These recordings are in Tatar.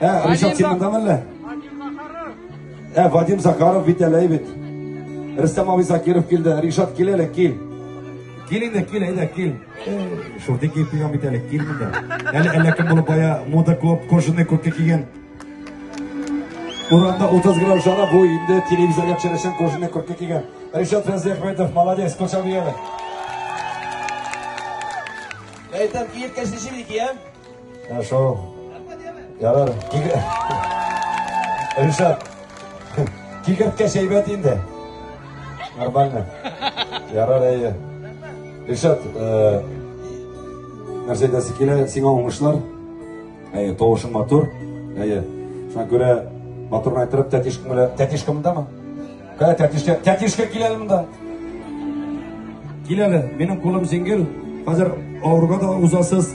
Ә, Ришат, син монда мәллә? Ә, Вадим Захаров бит әле бит. Рөстәм абый Закиров килде. Ришат, кил әле, кил. Кил инде, кил, әйдә, кил. Шурты киеп килгән бит әле, кил монда. Әле әллә кем булып бая мода клуб кожаный куртка кигән. Урамда 30 грамм жара бу инде телевизорга төшерәчәк кожаный куртка кигән. Ришат Фәнзәхмәтов, молодец, кочак бияме. Әйтәм, киеп кәшеши бит, Хорошо. Ярар. Ришат. Кикерткә шәйбәт инде. Нормально. Ярар әйе. Ришат, э, нәрсә әйтәсе килә, сиңа уңышлар. Әйе, тавышың матур. Әйе. Шуңа күрә матур айтырып, тәтишкәм белән, тәтишкәм дәме? Кая тәтишкә? Тәтишкә кил әле монда. Кил әле. Минем кулым җиңел. Хәзер авыруга да узасыз.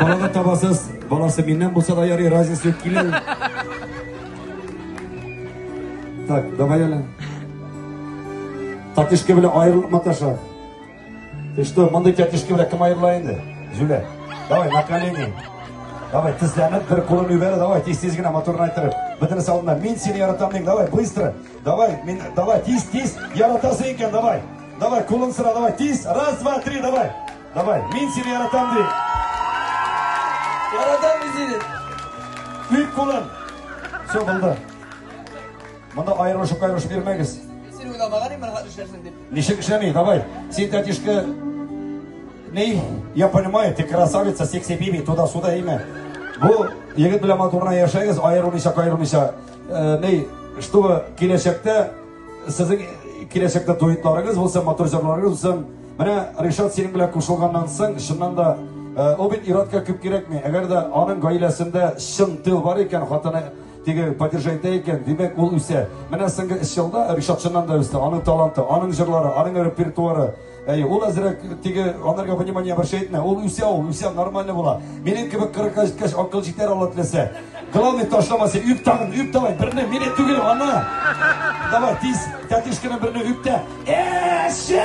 Бала да табасыз. Баласы миннән булса да ярый, разница юк. Кил әле. Так, давай әле. Татишка белән аерылып маташа. Ты что, мондый тәтешке белән кем аерыла инде? Зюлә. Давай, на колени. Давай, тезләнеп, бер кулын юбәре, давай, тиз-тиз генә моторын айтырып. Бөтен салында, мин сине яратам дин, давай, быстро. Давай, мин, давай, тиз-тиз, яратасы икән, давай. Давай, кулын сыра, давай, тиз. Раз, два, три, давай. Давай, мин сине яратам дин. Яратам мин сине. Бик кулын. Все, булды. Монда аерылышып кайрылышып йөрмәгез. Син уйламаган инде хәзер эшләрсең дип. Ничек эшләми? Давай. Син тәтишкә Ней, я понимаю, ты красавица, секси биби, туда-сюда имя. Бу егет белән матурна яшәгез, аерылмыйча, кайрылмыйча. Э, ней, чтобы киләчәктә сезнең киләчәктә дуэтларыгыз булса, матур җырларыгыз булсын. Менә Ришат синең белән кушылганнан соң, чыннан да э, ул бит иротка күп кирәкми. Әгәр дә аның гаиләсендә чын тыл бар икән, хатыны Теге поддержайта икән, димәк ул үсә. Менә соңгы өч елда Ришат чыннан да үсте. Аның таланты, аның җырлары, аның репертуары. Әй, ул әзрәк теге анарга внимание обращай итмә. Ул үсә, ул үсә, нормально була. Минем кебек 40-ка җиткәч акыл җитәр алла теләсә. Главный ташламасы, үп тагын, үп давай, берне мине түгел, аны. Давай, тиз, тәтишкәне берне үп тә. Эше!